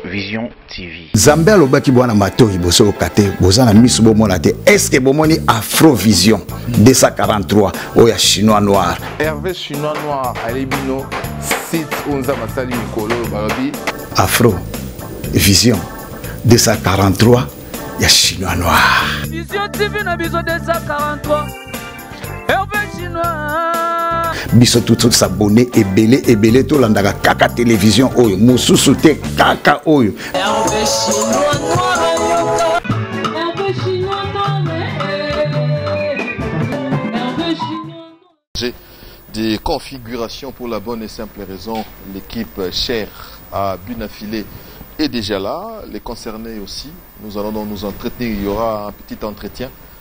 Vision TV. Zambe alobaki bwana matoi boso okate boza na misu bomona te. Est-ce que bomoni Afrovision 243 oya chinois noir. Hervé chinois noir alebino site onza masali mikolo balobi Afro Vision 243 ya chinois noir. Vision TV na biso 243 biso tous abonné ebele ebele tolandaka kaka télévision oyo mosusu te kaka oyo des configurations pour la bonne et simple raison. L'équipe chère à Bunafilé est déjà là, les concernés aussi. Nous allons donc nous entretenir. Il y aura un petit entretien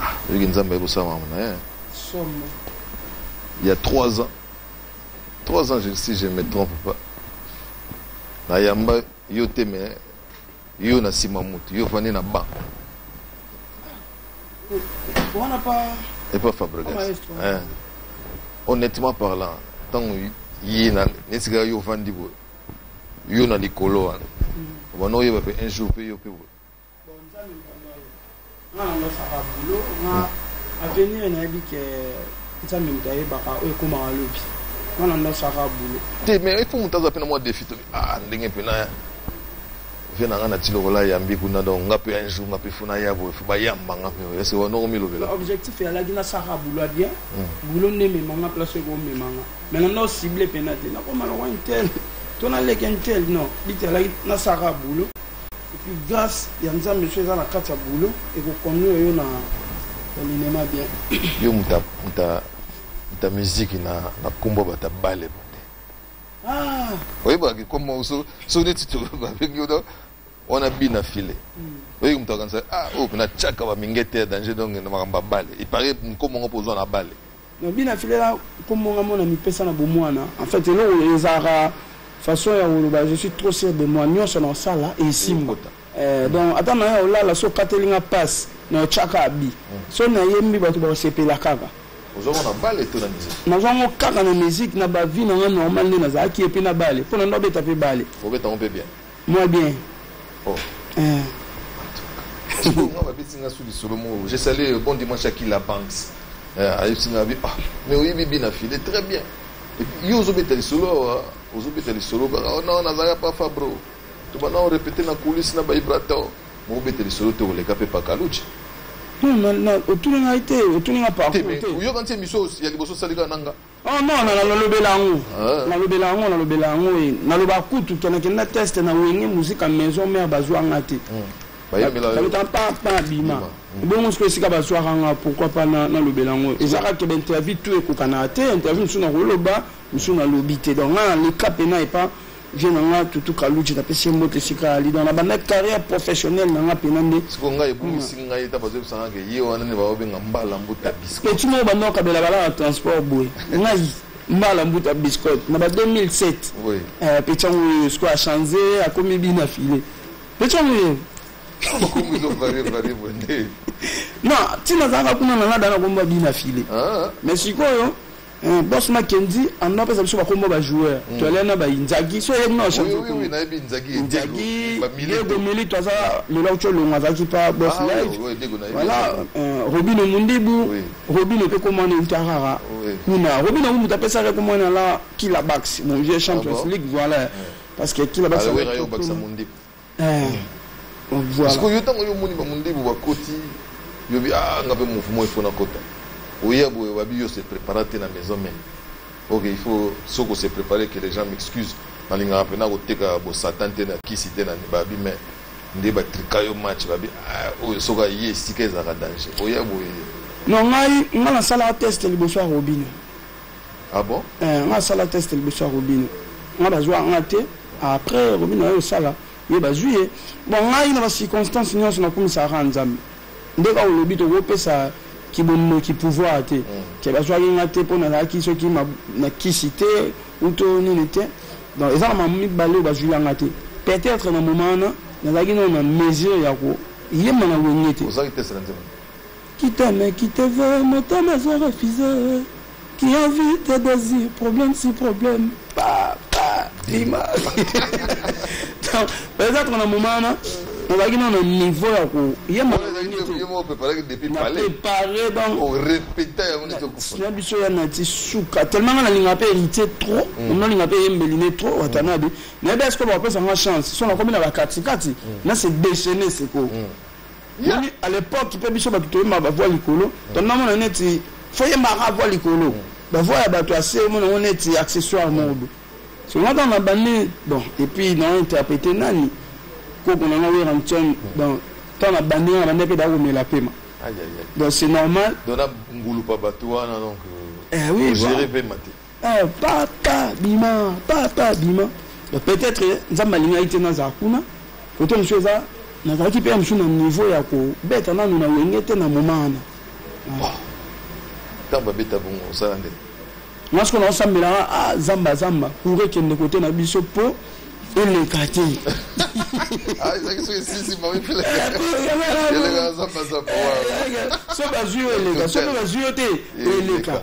Ah, oyoki nzambe aye kosala makambo na ye il y a trois ans trois ans si je me trompe pas nayamba yo te me yo na nsima motu yo fandi na ba epa fabrigas honnêtement parlant ntango ye nesika yo ofandi boye yo na likolo wana obana oyeba mpe un jour mpe yo mpe boye te mais ifo moto aza mpe na mwa defi tobi ah, ndenge mpe na vie na ngai na ti lokola yambi kuna donc nga mpe un jour nga mpe fo naya boye fo bayamba nga mpe ese wanoko milobela objectif eyalaki nasaka bulo ya bien hmm. bulo nde emema nga place ekomema nga mai nanda ocible mpena te nakoma lokwa intel to naleki intel non biti alaki nasaka bulo Et puis grace ya nzambe so eza na kati ya boulot eko conduire yo na na linema bien yo muta muta muta musique na na kombo bata bale bande ah oyeba ki kombo so so neti to ba bengi yo wana bina file hmm. oyebi moto akanisa ah oyo oh, mpena tiaka bamingete ya danger donc na makambo ya bale ipare nkombo ngo mpo ozwa na bale Na bina filela kombo nga mona mipesa na bomwana. En fait eloko ezalaka façon ya koloba je suis trop sûr de moi nyonso na osala esimba. Eh, donc ata na ya olala so okateli nga passe na otyaka abi. Mm. So nayembi bato bakosepela kaka. nazwango kaka na musique na bavie na nga normal nde nazalaki ye mpe na bale mpo na ndo abeta mpe bale Moi bien. Oh. Euh. nga babeti nga su lisolo moko je sali euh, bon dimanche aki la banks euh, ayebisi nga bi ah mais oyebi bi na file très bien yo ozobeta lisolo awa euh, ozobeta lisolo kaka oh, non nazalaka pa fabro tobanda orepete na coulisse na baibrator mokobeta lisolo te koleka mpe pakaluce otuni ngai te otuni nga parcours te oyoka nti emission ya liboso osalika na nga Oh non, na nalobela yango ah. nalobela yango nalobela yango e naloba kutu ke nakenda teste na wenge muzika maison mare bazwa nga te baluta papa bima ebongo siko esika bazwaka nga pourquoi pas nalobela yango eza kaka bainterview to ekokanaka te interview mosusu nakoloba mosusu nalobi te donc nga leka mpena epa Vieux na nga Tutu Kaludji napesi ye mbote esika ali donc nabandaki carrière professionnelle na nga mpena nde siko ngai ebungisi hmm. ngai ta bazoyebisa nga ke ye wana nde baobenga mbala mbuta bisco eti moko banda okabela bala na transport boye ngai mbala mbuta biscote na ba 2007 oui. euh, petit yango oyo siko achange akomi bina file petit yango oyo non ntina azalaka kuna na nga dana komba bina file ah. mais sikoyo Eh, boss Mackenzie en a pesa biso ba kombo ba joueurs. Mm. Tu allais na ba Inzaghi, so yebi na change. Oui oui, na yebi Inzaghi. Inzaghi, Diego Milito aza le law cholo ngaza ki pa boss ah, live. Oui, Diego na yebi. Voilà, euh, Robino Mundibu, oui. Robino pe comment ne Tarara. Oui. Kuna, Robino Mundibu ta pesa re comment la Kila Bax, mon vieux ah Champions League, voilà. Parce que Kila Bax. Ah, oui, Bax Mundibu. sikoyo yo ntango yo omoni bamondibu bakoti yobi a ah, nga mpe mouvement ifo nakota oya boye obabi yo se prépara te na maison meme ok il faut soko se préparer que les gens m'excusent nalingaka mpena koteka bosatan te na kisi te na babi me nde batrika yo match babi ah, oyo soko aye esika ezalaka danger oya boye non ngai ngai nasalaka test liboso ya robine Ah bon? Eh, nga sala test liboso ya Robino. Nga bazwa nga te. Après Robino ayo sala ye bazwi ye. Bon ngai na ba circonstances nyonso nakumisaka kaka Nzambe. Nde kaka olobi tokopesa kibombo ki pouvoir te. Mm. Te bazwaki nga te mpo nazalaki soki na kisi te uto nini te. Donc eza na mamu mibale oyo bazwi yanga te. Peut-être na moment wana nazalaki nano na mesure ya koyemba na wenge te. Ozalaki test na Nzambe? Qui t'aime, qui te veut, motema ezo refuse Qui a vu tes désirs, problème si problème Papa, dima Peut-être na moment wana nazalaki na na niveau ya koyeprepare bangona biso ya nati suka tellement nga nalinga mpe héritier trop mm. nalinga mpe yembeli ne trop mm. watanabe nayebi eske bakopesa nga chance so nakomi na bakatikati mm. na se déchaine sikoyo moni à l'époque mpe biso bato toyemba bavoi likolo tonamona neti foyembaka avoi likolo bavoi ya bato ase omona yango neti accessoire moko bo songo ntango na bandi bon epuis na interprete nani koko nanga weranson donc ntango na bandi nga na bandi mpe dakomela pema donc c'est normal dona ngulupa bato wana donc euh, eh, oui, géré pema te Eh, papa bima papa bima peut-être eh, nzambe alingaki te nazala kuna kote mosusu eza nazalaki mpe ya mosusu na niveau ya kobeta nanu na wenge te na moma wana ntango babeta bongo osala nde nga sikoyo naosambelaka ah, zamba zamba kure ekende kote na biso mpo eleka te ah, so bazwi yo eleka soki bazwi yo te eleka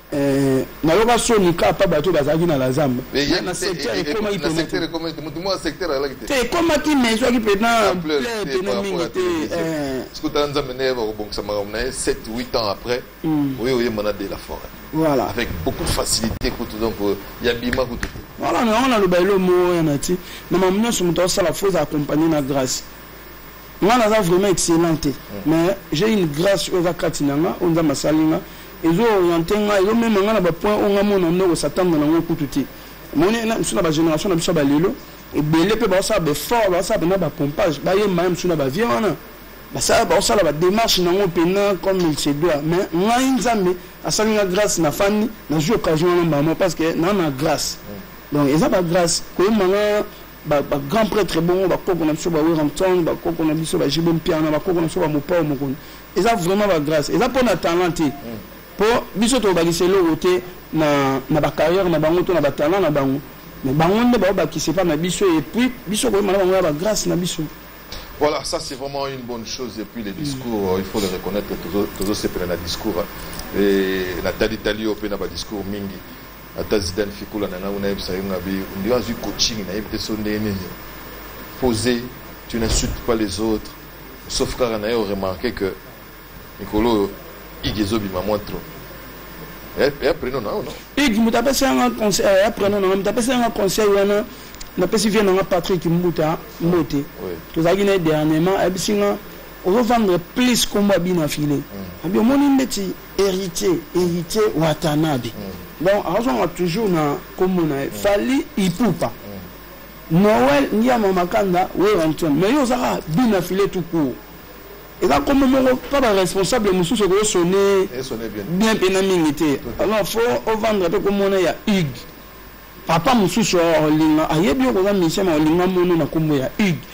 Eh, nayoka soni ka pa bato bazalaki na la zamba na secteur ekomaki te ekomaki mais ezwaki mpena mpena mingi te eh. sikotala nzambe nde yeba kobongisa makambo na ye 7 8 ans après hmm. oye oyemba na de la forêt voilà avec beaucoup de facilité kutu donc euh, ya bima kutu te voilà na yango naloba elo moko ya nati na mamu nyonso moto asala fo eza accompagne na grâce nga naza vraiment excellent te hmm. mais j'ai une grâce oyo eza kati na nga oyo nzambe asali nga Ezo orienter nga, ezo mema nga na ba points oyo nga mona nde ko s'attendre na ngo kutu te. Omoni na misu na ba generation na biso ba lelo, ebele pe ba sala ba effort, ba sala na ba pompage, ba yemba misu na ba vieux wana. Ba sala ba sala ba démarche na ngo pena comme il se doit. Mais ngai Nzambe asali nga grâce na fani, na joue occasion na maman parce que na na grâce. Donc eza ba grâce ko yemba nga ba, ba grand prêtre bongo ba koko na biso ba Werrampton, ba koko na biso ba Jibo Mpiana, ba koko na biso ba Mopao Mokono. eza vraiment ba grâce eza mpo na talent te mpo biso tokobakisa eloko te na, na bacarrière na bango to na batalent na bango mais bango nde baobakisa epai na biso et puis biso koyema na bango ya bagrâce na biso Voilà, ça c'est vraiment une bonne chose. Et puis les discours, euh, il faut le reconnaître, tous ces la discours. Hein. Et la tali tali au pena discours mingi. Ata Zidane Fikoula nana ou naïb sayung abi. On dit, ah, coaching, naïb te sonde nini. Poser, tu n'insultes pas les autres. Sauf kaka na yo remarquer que mikolo oyo igi ezobima mwa trop ya eh, eh, preno na yo no igi moto apesi yanga conseil ya eh, preno nanga moto apesi yanga conseil wana napesi vie nanga patrick mbuta mbote tozalaki na ye dernièrement ayebisi nga ozovandre plus kombo abi na file mm. abi omoni ndeti héritier héritier watanabe mm. donc azwanga toujours na kombo na ye mm. fali ipupa Noël Ngiama Makanda Werrason mais yo oza kaka but na filet tout court eza kombo moko mpa ba responsable mosusu ekoyo sonne bien mpena mingi te alors fo ovandre mpe komona ya hugue papa mosusu olinga ayebi yo koza musicien ma olinga mono na kombo ya hugue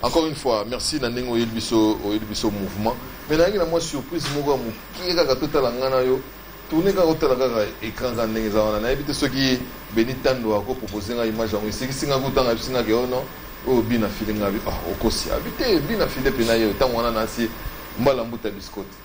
Encore une fois, merci na ndenge oyeli biso oyeli biso mouvement. Mais nayangi na mwa surprise moko ya mokie kaka totala ngai na yo tourne kaka otala kaka écran kaka ndenge eza wana nayebi te soki beni tando akopropose ngai image yango esekisi ngai kutanga yebisi ngai ke oh ono oyo bina file ngai ah, okosi abi te bina file mpe na ye ntango wana nasi mbala mbuta biscote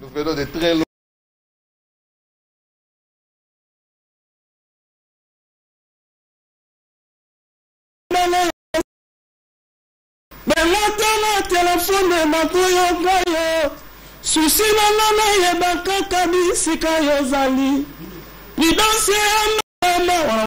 Nous venons de très loin. balotana telefone nakoyoka yo susi nanga nayeba kaka bisika yozali lidanse ya mama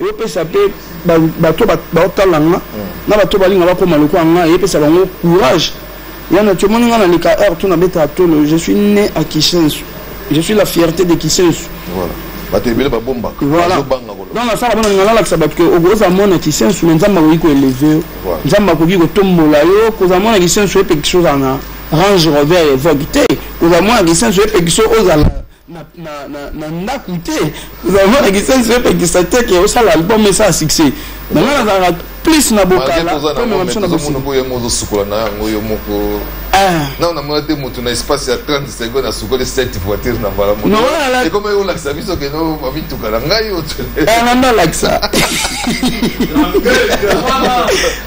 Ezo pesa pe bato bao tala nga na bato balinga bakoma lokola nga eye pesa bango courage. Yana tu omoni nga na leka heure tout na beta tolo je suis né à Kisensu. Je suis la fierté de Kisensu. Voilà. Bato ebele ba bomba. Voilà. Donc na sala bana ngala lakisa bato que ogoza mona Kisensu mais nzamba ko ko élever. Nzamba ko ko tombola yo ko za mona Kisensu epe kisoza na Range Rover Evoque te. Ko za mona Kisensu epe kisoza na, na, na, na ndako te vraiment na kisensi epekisa te ke osala album esala succès na ngai nazalaka plus na bokalaomemonabisonaboye yango ozosukola na yango yo moko ah. nao namona te motu na espace ya 30 seconde asukoli 7 voiture na mbala moekomaki olakisa biso keno bamituka na ngai nanda eh, olakisa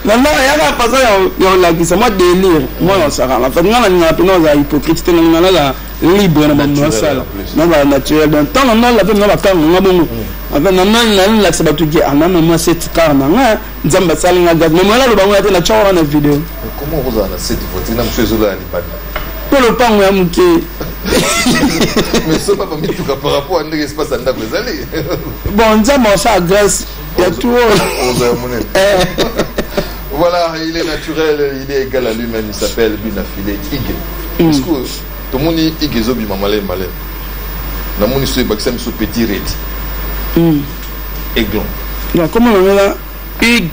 nanda yaka façon ya olakisa mwa délire mwana osakana fat ngai nalingaka mpena ozala hypocrite te nalingaka libre na makambo nasala na ba naturel donc ntango ngai lape nga bakanga nga bongo nalakisa bato ke ana mama seti kar na nga nzambe asali nga gaz mama naloba yango ya te natya wana na video mpo lopango ya moke bon nzambe asala grâce ya tuola oza ya monene eh. voilà il est naturel il est égal à lui-même il s'appelle bina filet ige mm. est-ce que tomoni ige ezobima maleme maleme namoni so ebakisa miso petit redi mm. aiglon nakoma nangela ig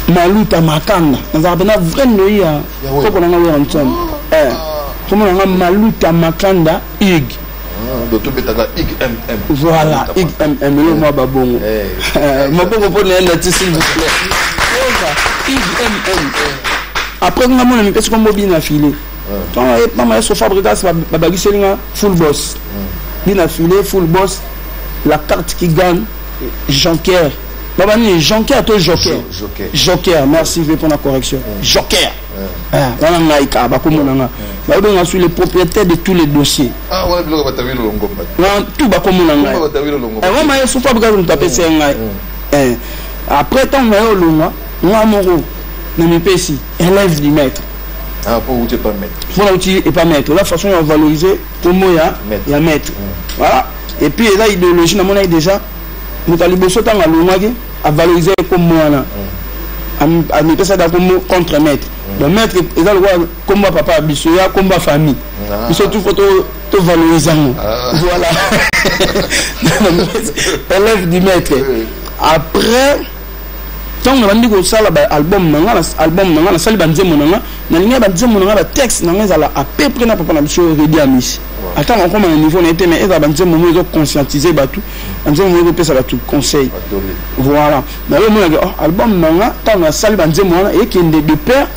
maluta makanga nazalaka mpena vrai ndoyi ya koko nanga oyo ya nsomo ah. eh. komona nga maluta makanda ig tobetaka igmm voilà igmm eloko mwa babongo eh. eh, mabongo mpo na yenda ti s'il vous plaît igmm après nga mona mipesi kombo bina file eh. tonga ye mama ya sofa brigas babakiseli nga full boss bina file full boss la carte qui gagne jonker baba nini jonker to joker joker merci mpe mpo na correction joker Ah, nga na ngai kaka bakomona nga bayebi nga suis le propriétaire de tous les dossiers ah, tout bakomona ngai yango maye sofa bikazo moto apesi ya ngai eh, après ntango naye olongwa nga moko na mipesi élève du maître ah, mpona uti epa maître la façon ya valoriser kombo ya maître voilà et puis eza idéologie namonaki déjà moto ya liboso ntango alongwaki avalorize ye kombo wana amipesa da kombo contre maître donc maître eza lokola kombo ya papa ya biso ya kombo ya famille ah. biso tout fo tovalorize yango ah. voilà élève du maître après ntango nabandi kosala baalbum na nga album na nga nasali banzembo na nga nalingaki banzembo na nga batexte na nga ezala à peu près na papa na biso redi amisi atanga akoma na niveau na ye te mais ezala banzembo mo ezo conscientise bato banzembo mo ezopesa bato conseil voilà naye omonake oh, album na nga ntango nasali banzembo wana ekende de père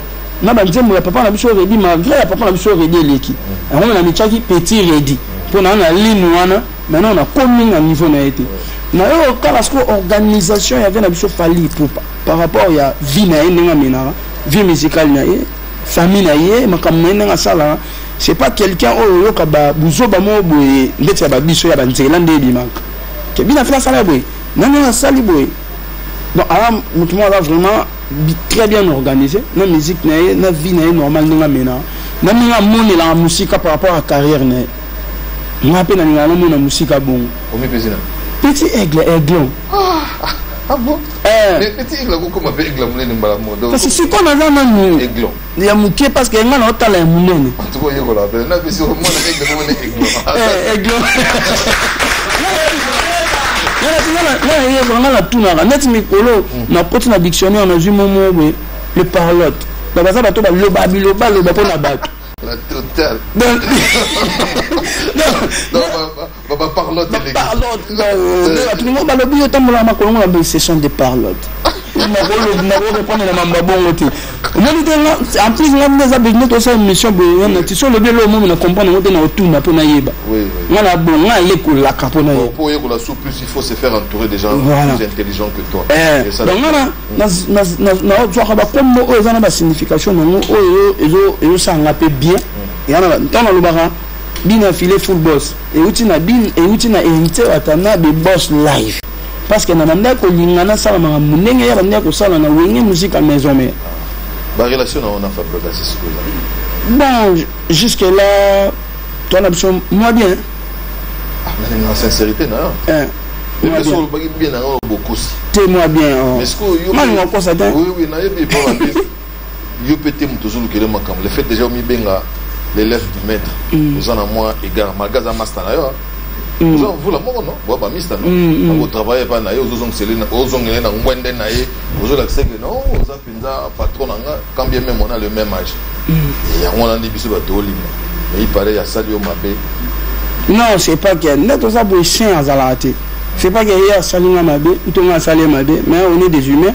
na banzembo ya papa na biso redi malgré ya papa na biso redi eleki yango me namityaki petit redi mpo na na ligne wana maintenant nakomi na niveau na ye te nayo kaka sikoyo organisation yake na biso fali ipupa par rapport ya vie na ye ndenge amenaka vie musicale na ye famille na ye makambo na ye ndenge asalaka C'est pas quelqu'un oyo oh, yoka ba buzoba mo boye ndeti ya ba biso ya ba nzela nde ebimaka. Ke bina fela sala boye. Non non asali boye. Donc ala mutu mo aza vraiment très bien organisé na musique na ye na vie na ye normal ndenge amena na ndenge amonelaka mosika par rapport à carrière na ye nga mpe nalingaka namona mosika bongo petit aigle aiglon ah, ah, ah eh. eh, kasi sikoyo naza nanu ya moke parce que ngai naotala ya monene nayekola ngai natunaka neti mikolo nakoti na dictionnaire nazwi momo boye le parlotte donc baza bato baloba bilobaloba mpo na bato Baba parlotte les parlotte là euh, tout le monde balobi yo tambola makolo ngona ba session de parlotte makolo makolo répondre na mamba bongo te omoni te nga en plus nga nde eza besoin tosala émission boye nga na tiso olobi elo omomi na comprendre ngo te na otuna mpo nayeba nga na bon nga alekolaka mpo na ye pour yekola sous plus il faut se faire entourer des gens voilà. plus intelligents que toi eh, donc nga na nazwaka bakombo oyo eza na basignification nango oyo ezosala nga mpe bien mm. ntango nalobaka Bino ya filet full boss euti na bino euti na heritier watanabe boss live parce que na bandaki kolinga nasala makambo ndenge ya bandaki kosala na wenge musika maison mère barelation na ona fabrikasi sikoyo bon jusque là toi na biso mwa bien ah, na sincérité na eh, te mwa bien oh. malinga okosa te yo pe te moto ozolukele makambo le fait déjà omibenga l'élève du maître mm. oza na mwa égard malgré aza masta na yo mm. oza mvula moko no boya bamista no mm, akotravaille epai na ye ozongele na ngwende na ye ozolakisa ke no oza mpenza patron na nga quand bien même ona le même âge yango wana nde biso bato olima mais il paraît asali yo mabe non c'est pas que nde toza boye chien azalaka te c'est pas que ye asali nga mabe ntonga asali ye mabe mais on est des humains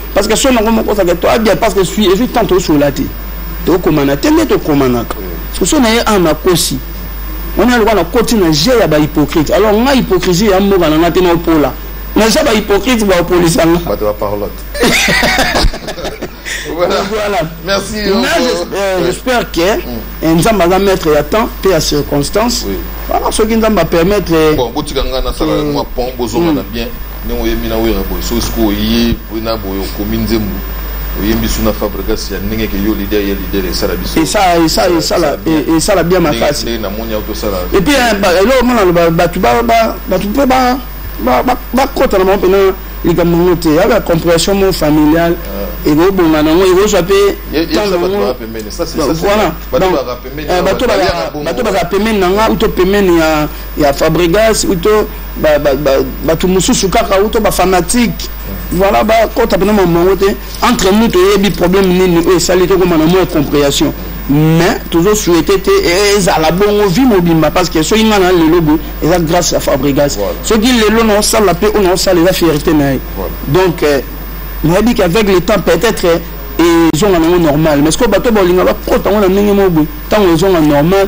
parce que son yango moko ozalaka toa bien parce que suis ezwi temps tosolola te tokomana te nde tokomanaka soki so na ye a nakosi wana lokola nakoti na je ya bahypocrite alors nga hypocrisie ya mboka na nga te naopola naza bahypocrite baopolisa nga bato ba parlotte voilà. voilà. Merci. Là, je, euh, oui. j'espère que mm. Nzamba va mettre à temps et à circonstance. Oui. Voilà, ce qui Nzamba permettre. Bon, botika ngana sala moi pont bozo mm. bien. ndenge oyembi na wera boye soki sikoyo oye boye na boye okomi nzembo oyembi su na fabrigas ya ndenge ke yo lider ya lider esala biso esala bien makasi ndenge namoni yango tosala epuis eh, eloko mona loba bato bato mpe bakota na bango mpena likambo yango te yaka compression mo familiale ah. ekobonga nango ekozwa mpe voilà bato bazala pembeni na nga uto pembeni ya ya Fabregas ou to ba ba ba batu mususu kaka ou to ba fanatique voilà ba kota pena mamango te entre nous to yebi problème nini oyo esali to koma na moins compréhension mais tozo souhaiter te ezala bongo vie mobimba parce que soki nga na lelo boye eza grâce ya Fabregas soki lelo na osala pe oyo na osala eza fierté na ye donc euh, nayebi qu'avec le temps peut-être ezonga nango normal mais sikoyo bato baolinga bakota yango na ndenge moko boye ntango ezonga normal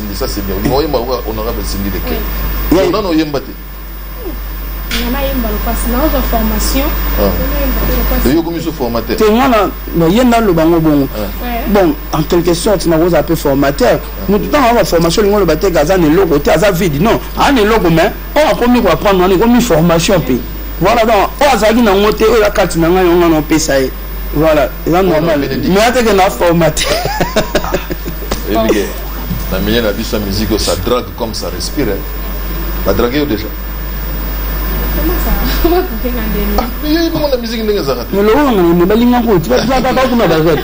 Cindy, ça c'est bien. Vous voyez, moi, honorable Cindy de Ken. Oui. Non, non, yemba te. nayemba lokasi naozwa formation yo komi so formateur te nga naye naloba ngo bongo bon en quelque sorte nakozala mpe formateur motu ntango aza baformation olingi oloba teke aza na eloko te aza vide non aza na eloko mais oyo akomi koapprendre wana ekomi formation mpe voilà donc oyo azalaki nango te oyo akati na ngai yango wana opesa ye Voilà, eza normal. Mais ateke na formaté. Elige. Na milieu na biso musique ça drague comme ça respire. Hein. Ba drague déjà. mona musique ndenge ezalaka te mais lokola ngana balinga koti balinga kaka kuna bazali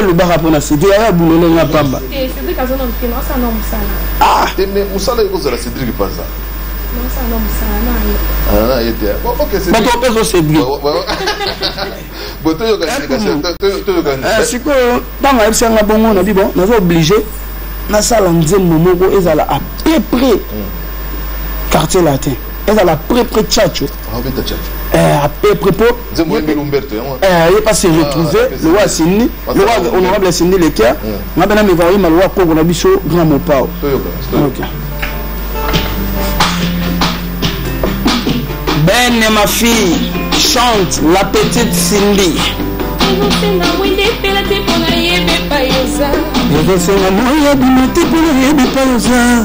lobaka mpona cedrik aya bulole nga pamba mosala ekozala cedrik mpanza bato opeso cedrik sikoyo ntango ayebisa nga bongo na bibo naza oblige nasala nzembo moko ezala à peu près mm. quartier latin ezala à peu près chacho Euh, à peu près pour ye pas se retrouver le roi sindi le roi honorable sindi le cœur nga bana me voir ma loi koko na biso grand mopao okay. Ben et ma fille chante la petite Cindy. ekosenga moi ebima te mpo na yebi epai oza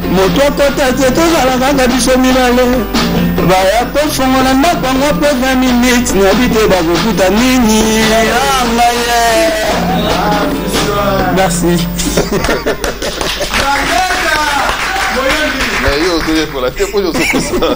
moto akota te tozala kaka biso mibale baya kofongola ndako yango mpe 20 minutes nayebi te bakokuta nini angaye ah, merci mais yo ozoyekola te mpo ozokosa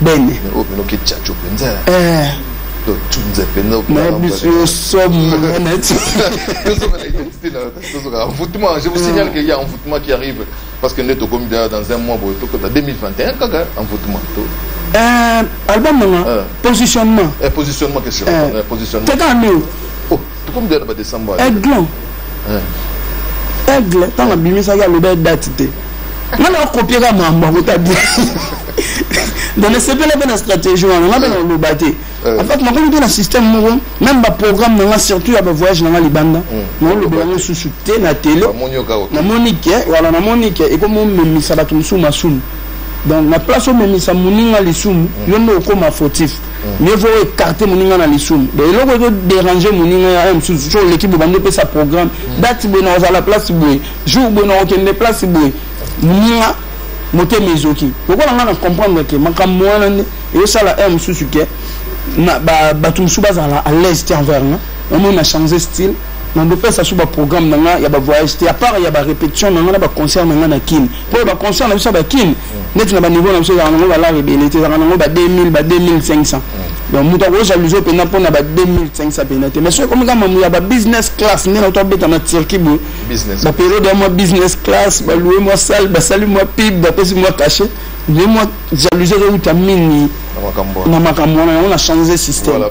bene oyo mpe noki chacho mpenza eh. totunze mpenza yo somo neti tozokaka envoûtement je vous signale qu'il y a envoûtement qui arrive parce que nde tokomi deja dans un mois boye tokota 2021 kaka envoûtement to album nanga positionnement positionnement question positionnement teka nini tokomi deja na ba decembre aiglon aigle ntango abimisaki aloba date te nga na kopie ka mambo yango ta bien donc nasepela mpe na stratégie wana nga mpe na koloba te eh. en fait nakomi mpe na système moko même baprogramme na nga surtout ya bavoyage na nga libanda hmm. naoloba yango susu te na tele namoni ke wala namoni ke ekomi omemisa bato mosusu masumu donc na place omemisa moninga lisumu hmm. yo nde okoma fautif mieux vaut écarter moninga na lisumu donc eloko ezo déranger moninga ya mosusu so oleki boye bando opesa programme date boye na ozala place boye jour boye na okende place boye moninga motema ezoki lokola ngai na comprendre ke makambo wana nde ezosala heure mosusu ke bato mosusu bazala à l'aise te envers nga omoi na change style nandopesa so baprogramme na nga ya bavoyage te apart ya barépétition na nga na baconcert na nga na kine mpo ya baconcert na biso ya bakine neti na baniveau na biso ezalaka nango balare ebele te ezalaka nango ba 2000 ba 2500 donc moto akojaluze mpenza mpona ba 2500 mpenza te mais soki ekomi kaka mamu ya ba business class nde nauta obeta na turquie boye baperiode ya mwa business class baloue mwa sale basali mwa pib bapesi mwa cachet nde mwa jaluze ezouta mingi na makambo wana yango na change système voilà,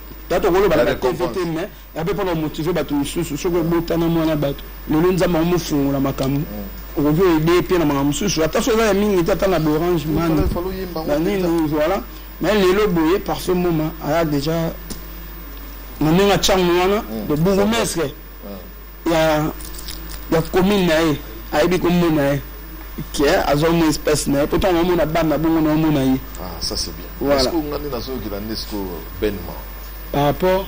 tata okolobaka na tv te me ape mpona omotive bato mosusu soki obotana mwana bato lelo nzambe yango mofungola makambo mm. okoki oede mpe na makambo mosusu ata so eza ya mingi te ata na borange mani na nini voilà mais lelo boye parfait moma aya déjà na ndenge atyango wana mm. le bourgmestre ya ya commune na ye ayebi komona ye ke azwa mwa espace na ye poto yango omona bana bongo na omona ye ah, ça c'est bien voilà. Est-ce que nga nde nazoyokela nde siko benement par rapport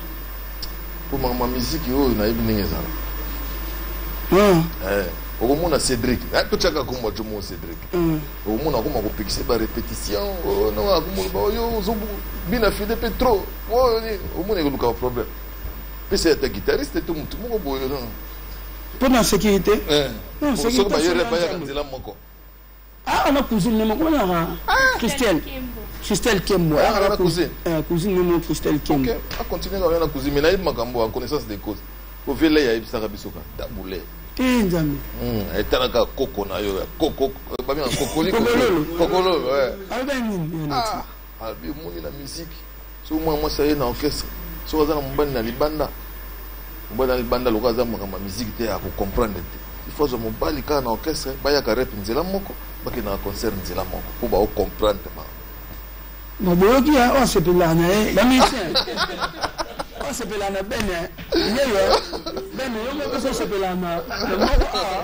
mpo makambo miziki oyo nayebi ndenge ezala ah. eh, okomona cédric ah, totyaka kombo ajo mo cédric mm. okomona akoma kopekisa ba répétition oh, akomona baoyo oh, bina fide mpe trop oh, omona ekoluka problème pesa ata guitariste to mutu moko boye non mpo na sécurité eh, non sécurité bayere bayaka nzela moko ah na cousine ne moko naka ah, christelle christelle kembo ah, ah, na cousine eh, cousine ne moko christelle kembo ok a continuer ka na cousine mais nayebi makambo en connaissance de cause ovele ya yebisaka biso ka tabule te eh, nzambe hmm, etalaka koko na yo ya koko eh, babenga kokolikokolo kokololo eh. alobi omoni na miziki soki mwana mwasi aye na orchestre soki aza na mobali na libanda mobali na libanda lokola aza makambo ya miziki te akocomprendre te ifo azwa mobali kaka na orchestre bayaka rep nzela moko bakendaka concert nzela moko mpo baocomprendre ma maboyoki ya oyo asepelaka na ye bamisien oyo asepelaka na bene yeyo bene yo moko ososepelaka na moko awa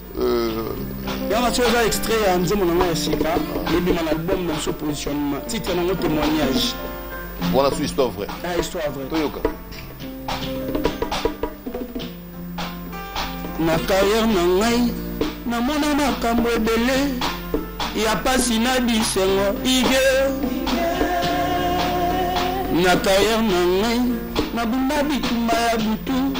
yanga soki oza extrait ya nzembo na ngai ya sika ebima na album na biso positionnement titre nango témoignage wana su histoire vrai ah, histoire vrai toyoka na carrière na ngai namona makambo ebele ya pasi na bisengo ige na carrière na ngai nabunda bitumba ya butu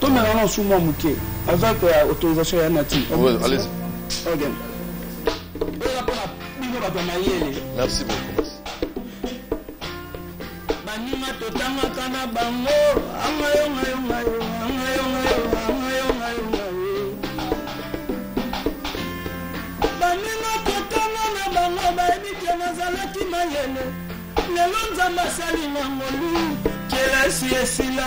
tomela na sumu ya moke azwaki koya autorisation ya nati bino bato ya mayele merci beaucoup baninga totangaka na bango angayongayongayo angayongayo angayongayongayo baninga totanga na bango bayebi te nazalaki mayele lelo nzambe asali na ngolu kelasi esila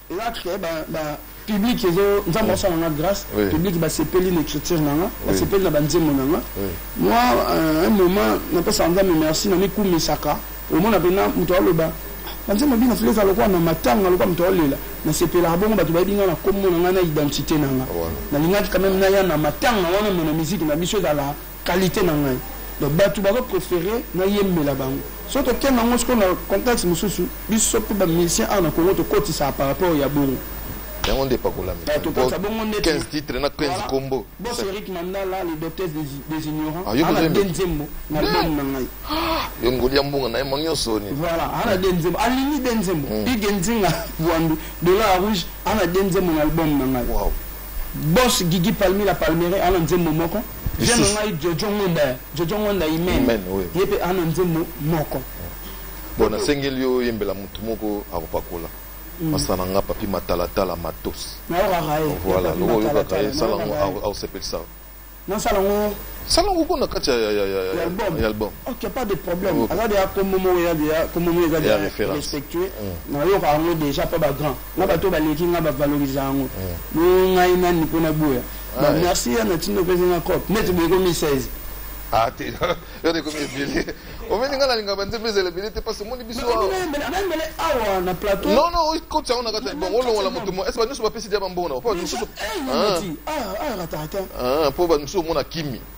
Nga que ba ba public ezo nzambe asala nga grâce public ba sepeli na écriture na nga ba sepeli na ba nzembo na nga moi euh, un moment na pesa nzambe merci na mikumisaka omona pena moto aloba ba nzembo bino file eza lokola na matanga lokola moto aolela na sepelaka bongo bato bayebi nga na kombo na nga na identité na nga nalingaki quand même naya na matanga wana mona miziki na biso ezala Qualite na ngai donc batu bazo prefere na yembela bango soki tokenda yango sikoyo na contexte mosusu biso mpe bamusicien awa na congo tokotisaka par rapport ya bongo yango nde epakolami 15 titre na 15 nkombo bos eric mandala le docteur des ignorants ah, ana de nzembo na album na ngai ah, yo ngoli ya mbongo na ye mo nyonso ni voilà ana de nzembo alingi de nzembo hmm. ige nzinga bwandu dollar rouge ana de nzembo na album na ngai bos gigi palmi la palmere ana nzembo moko J'aime ngai Jojo Ngonda, Jojo Ngonda Imen. Ye pe ana nzembo moko. Bon nasengeli yo yembela mutu moko akopakola. Mm. Masana nga papi matalatala matos. Na yo kaka ye. Voilà, loko yo kaka ye sala ngo au sepelisa. Na sala ngo sala ngo kuna kati ya ya ya ya album. Ya album. OK, pas de problème. Okay. Aza déjà comme momo ya déjà comme momo eza déjà respectueux. Mm. Na yo kaka ngo déjà pas ba grand. Na bato baleki nga ba valoriser ngo. Mm. Ngai nani pona boya. Ba Ouais. merci ya na tino opesi nga coop neti boye komi 16 Ah, te. Yo de komi ebele. Omeli nga na linga ba nzembe ezela ebele te parce que moni biso. awa. nayembele awa na plateau Non non, oyi koti yango na kati ya bongo olongola moto mo. Est-ce que nyonso bapesi dia bambongo na. Po nyonso. Eh, Ah. mati. Ah, ah, ratata. Ah, po ba nyonso omona kimi.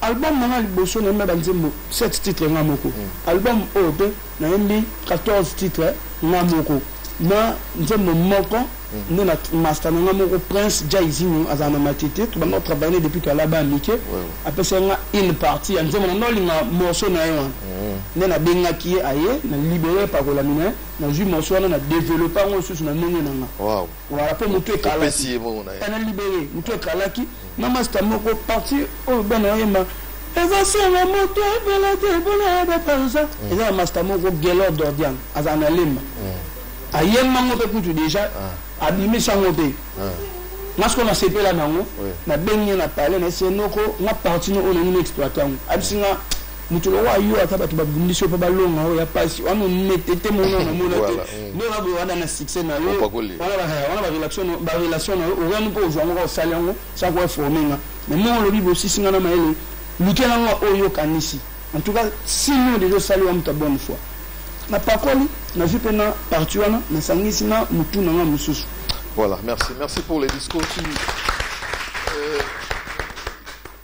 Album na nga ya liboso nayembi na ba nzembo 7 titres nga moko. Album oyo pe nayembi 14 titres nga moko na nzembo moko nde na master na nga moko Prince Jaizinho azala na Matete tobanda ko travailler ne depuis toala bana mike apesaki nga une partie ya nzembo na nga olinga morceau na ye wana nde na bengaki ye aye na libere epakolami na ye nazui morceau wana na developper yango lisusu na ndenge na nga. Waouh. Voilà po mutu ekalaki. Opesi ye bongo na ye. Na libere mutu ekalaki. Na masta moko parti oyo bana oyemba eza senga moto ebele te mpona ya baparisa mm. eza na masta moko gelor dordian azala na lemba mm. ayemba ngo mpe kutu deja ah. abimisa ngo mpe ah. nga sikoyo nasepela nango nabengi ye na palais na esenoko nga parti no oyo nangi na exploite yango abisi nga mutu lokola yo ata bato babundisi yo mpo balonga oyo ya mpasi wana onetete mona namona te nde oza boye wada na succès na yo wana barelation na yo orani mpo ozwa yango kaka osali yango sa ko informe nga mais ndenge olobi bosisi nga na mayele lukela nga oyo okanisi en tout cas sino deja osali wa moto ya bonne foi napakoli nazwi mpe na parti wana nasangisi na motu na nga mosusu voilà merci merci pour les discours tu... euh...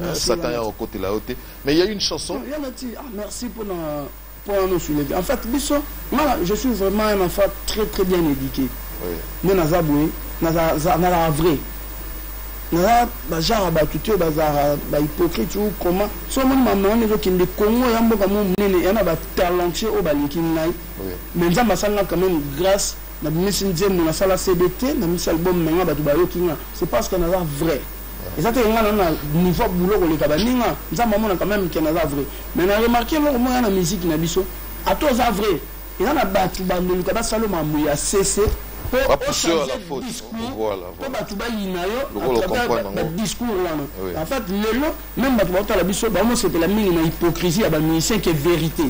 Euh, Satan ya côté là haute mais il y a une chanson. Non, yana ti ah, merci pour na pour nous soulever. En fait biso mala je suis vraiment un enfant très très bien éduqué. Oui. Mais naza boye naza naza vrai. Naza ba genre ba tuto ba za ba hypocrite ou comment so mon maman ne veut qu'il me Congo ya mboka mo munene yana ba talentueux au baliki ngai. Mais nzamba sanga quand même grâce na bimisi nzembo nasala cdt na misi album na nga bato bayoki nga c'est parce que naza vrai eza te nga na niveau boulot koleka baninga nzambe amona quand même ken aza vrai mais na remarquer eloko moya na musique na biso ata oza vrai eza na bato bandoluka basala mambo ya sese po bato bayina yo badiscours wana en fait lelo même bato baotala biso baomosepela mingi na hypocrisie ya bamusicien ke vérité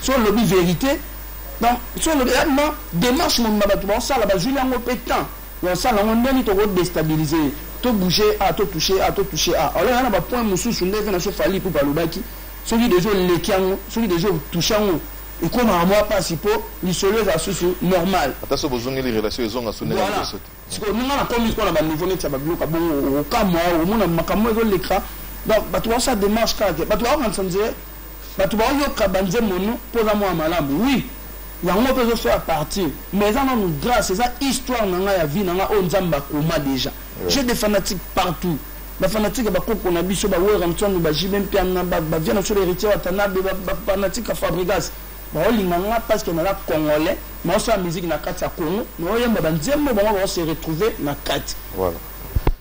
so olobi vérité donc so olobi ma démarche mobima bato baosala bazwili yango mpe temps Ya sala ngo ndeni toko destabilise ye to bouge ye awa to touche ye awa to touche ye awa alors ya na ba point mususu nde vena so fally ipupa alobaki soki deja oleki yango soki deja otouche yango ekomaka mwa pasi po lisolo ezala susu normal ata so bozongeli relation ezonga su ndenge liboso te sikoyo ninga na komi sikoyo na ba niveau neti ya ba biloko ya bongo okamwa omona makambo ezoleka donc bato baosa demarche kaka te bato baokanisa nzee Batu bao yoka ba nzembo no po oza mwana malamu oui yango pe ezo so a partir mais eza nanu grace eza histoire na nga ya vie na nga oyo nzambe akoma deja j'ai des fanatiques partout ba fanatiques ya bakoko na biso ba wera mtswandu ba jibe mpiana ba ba viana sur héritier watanabe ba, ba fanatiques ya fabrigas baolinga nga parce que naza congolais naosala musique na kati ya congo naoyemba banzembo bango baose retrouver na kati voilà.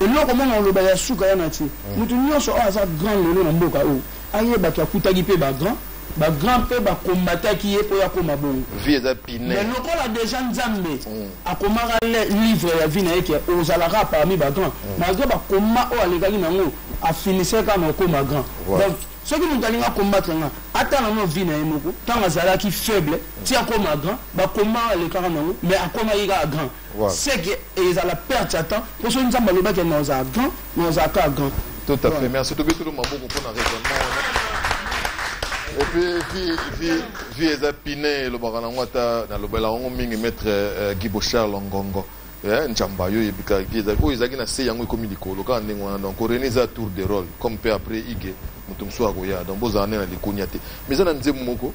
Eloko moko nakoloba ya suka wana tse, mutu nionso oyo aza grand lelo na mboka oyo, aye batu akutaki pe ba grand, ba grand pe ba combataki ye po akoma bongo. Vie eza pine. Mais lokola deja Nzambe akomaka le livre ya vie na ye ke ozala kaka parmi ba grand, malgre ba combat oyo alekaki na ngo, a finissaki kaka na kokoma grand. Donc, soki mutu alingi a combattre nga, atala nanu vie na ye moko, tango azalaki faible ti akoma grand, ba combat oyo alekaka na ngo, mais akomaki kaka grand. Voilà. Ce que ezala perte ya temps mpo soki nzambe alobaki ya naozala grand naozala kaka grand tout à fait merci tobetolo maboko mpo na raisonnement wana et puis vie vie vie eza pine elobaka nango ata nalobela yango mingi maître euh, guibo charles ngongo eh, njamba yo oyebika vie eza oyo ezalaki na se yango ekomi likolo kaka ndenge wana donc rene eza tour de role comme mpe après ige moto mosusu akoya donc bozala nde na likunia te mais eza na nzembo moko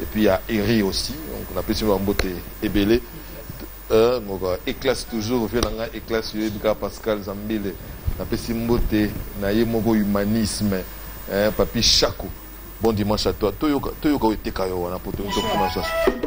et puis ya Eri aussi donc na pesi ba mbote ebele euh donc éclasse toujours vieux na nga éclasse yo bika Pascal Zambile na pesi mbote na ye moko humanisme hein papi Chaco bon dimanche à toi toyoka toyoka oteka yo wana poto to kuna sasa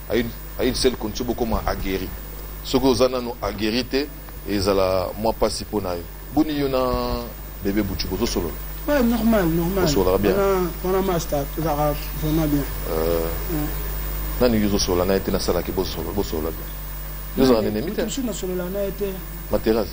a une seule condition bokoma aguerri soki oza nano aguerri te ezala mwa mpasi mpo na yo boni yo na bebe butu bozosolola ouais, normal normal osolaka bien wana masta tozalaka vraiment bien euh, ouais. nani yo ozosolola na ye te nasalaki bosolola bien yo ozalaka nenemi te materas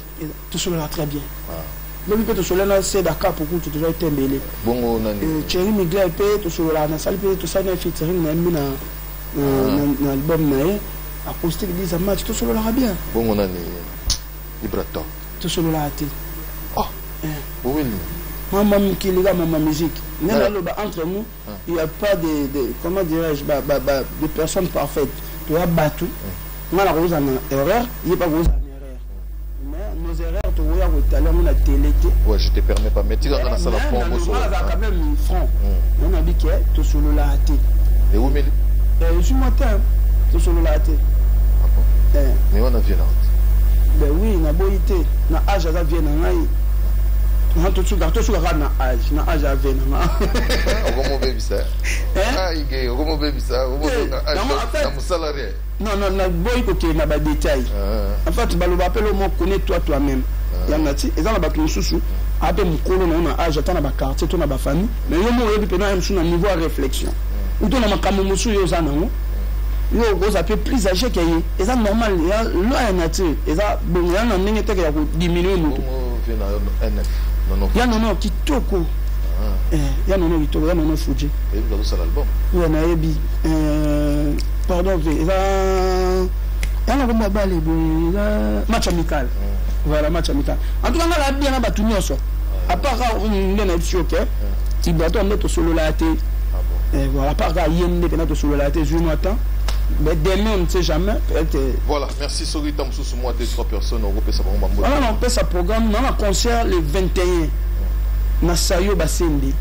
tosololaka très bien ah. lobi mpe tosololi na seda kapo kutu tozwaki te mbele bongo nani euh, cheri migler mpe tosololaka nasali mpe tosali na featuring na ye mbi na ah. album na ye acoustique disa match tosololaka bien bongo nani ibra top tosololaka te ah. eh. mama mokili ka mama musique nde naloba entre nous il y a pas de, de comment dirais-je ba, ba, ba, de personnes parfaites toya batu nga na kozala na erreur ye pa kozala na erreur mais nos erreurs tokoya kotala yango na tele te ouais je te permets pas mais tika nga nasala franc bosolaa quand même franc hmm. nga nabi ke tosololaa te ewumeli ezwi mwa te tosololaa te ah eh. mais wana vie na ben oui naboyi te na age aza vie na ngai tosuka kaka na age na age ya 20 okomobebisa aige okomobebisa okomona mosala rien non non naboyi kokende na badetail ah. en fait baloba apele omo connais toi toi même ah. yango nati eza na bato mosusu ape mokolo na yo na age ata na baquartier to na bafamille mais yo mo oyebi mpena ya mosusu na niveau ya réflexion ah. uto na makambo mosusu yo oza nango yo okoza mpe plus age ke ye eza normal loi ya nature eza bongo ya na ndenge teke ya kodiminue moto ya nono kitoko ah. eh, ya nono kitoko ya nono fuji oyo nayebi eh, pardon ve eza yanga komba bale boye eza match amical ah. voilà match amical en tout cas nga nayebi yana bato nyonso ah. apart ka mm, nde nayebi si oke tibato ya nde tosololaya te eh, voilà apart ka ye nde mpena tosololaya te zwi mwa temps mais demain on ne sait jamais peut-être voilà merci soki ntango mosusu mwa 2 3 personnes okopesa bango bambo wana nakopesa programme na na concert le 21 na sayo basende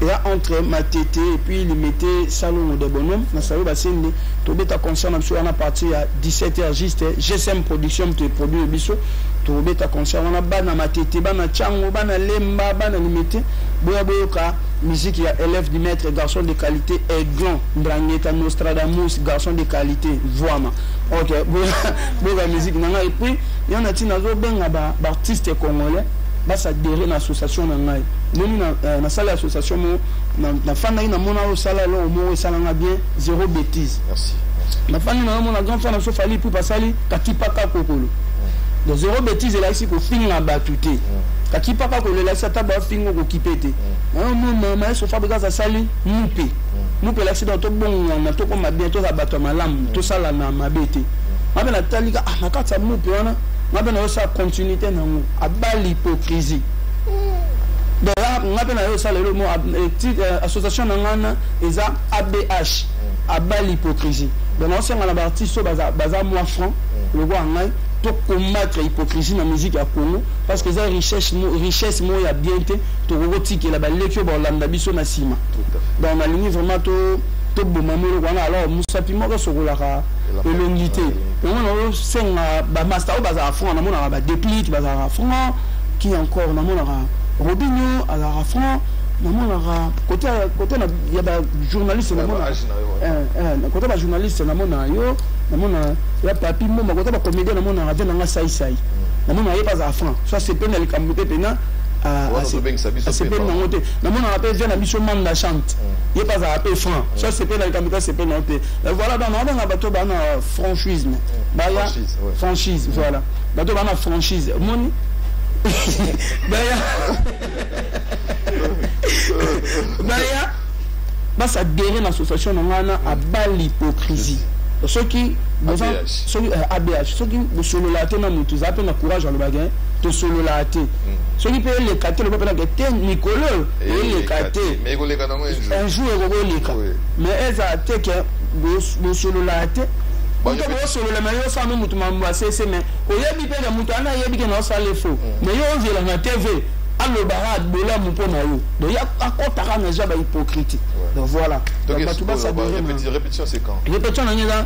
eya entre matete et puis limete salongo de bonhomme na sayo basende tobeta concert na biso wana partir ya 17 heures juste gsm production moto eproduire biso tobeta concert wana bana matete bana cango bana lemba bana limete boya boyoka musique ya élève du maître garçon de qualité aiglon ndrangueta nostradamus garçon de qualité voama Ok, boga musique nanga et puis yo na tina zo benga ba artiste congolais ba s'adhérer na association na ngai. Moni na euh, na salle association mo na na fana ina mona o sala lo mo o sala nga bien zéro bêtise. Merci. Na fana na mona grand fana so fali pour pasali katipa ka kokolo. Donc zéro bêtise là ici ko finga batute. Katipa ka kokolo là ça ta ba fingo ko kipete. Na mona maman so fabrica ça sali mupe. mupe elakisi donc tobongwana tokoma bien tozala bato ya malamu mm. tosala na mabe te nga mpe natali ka ah, na kati ya mupe wana nga mpe nayosala continuité nango abali hypocrisie mm. donc nga mpe nayosala lelo mo eh, eh, association na ngana eza abh mm. abali hypocrisie donc naosenga na baartiste oyo baza mwa franc lokola ngai tocombattre hypocrisie na musique ya congo parce que eza richesse moko ya bien te tokoki kotikela baleki oyo bakolanda biso na nsima donc nalingi vraiment to toboma mwa eloko wana alors mosapi moko esokolaka elongi te yango naosenga bamasta oyo bazalaka franc namonaka badeplit bazalaka franc ki encore namonaka robinio azalaka franc namonaka kote ya bajournaliste namonaka eh, eh, kote bajournaliste namonaka yo namona ya papi mboma kote bacomédien namonaka te nanga saisai mm. namonaka ye bazala franc so asepeli na likambo te mpena Ah, ah, asepeli nango te namonaka mpe vie na biso mame na chante mm. ye mpe azalaka mpe franc mm. so asepeli na likambo te asepeli nango te voilà donc naobanga bato baa na franchisme mm. baya franchise voilà bato baa na franchise omoni baya baya bas adhérer na association na ngai na abal hypocrisie soki boza soki abh eh, soki bosololaka te na motu eza mpe na courage alobaka eh, tosololaka te mm. soki mpe eleka te loba mpenaka te mikolo oyo eleka te un jour ekoki oleka mais eza te ke bosololaka te moto bosolola me yo osala no motu mambo asese me oyebi mpe na motu ana ayebi ke na osala efo me mm. yo ozelaka tv aloba ha bolamu mpo na yo donc ya akotaka na ja ba hypocrite donc voilà donc bato basadere répétition c'est quand répétition na ngai eza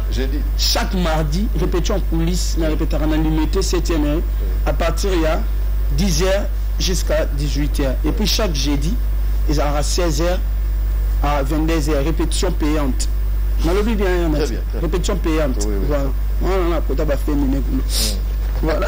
chaque mardi répétition en coulisse na répétaka na limete 7e hein. à partir ya 10 heures jusqu'à 18 heures et puis chaque jeudi ezalaka 16 heures à 22 heures répétition payante nalobi bien hein, yana répétition payante voilà wana nakota bafemine kuna voilà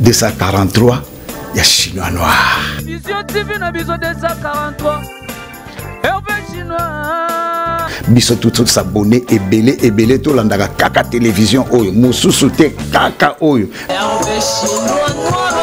243 ya chinois noir vision tv na biso 243 herve chinois biso tous abonné ebele ebele tolandaka kaka télévision oyo mosusu te kaka oyo herve chinois noir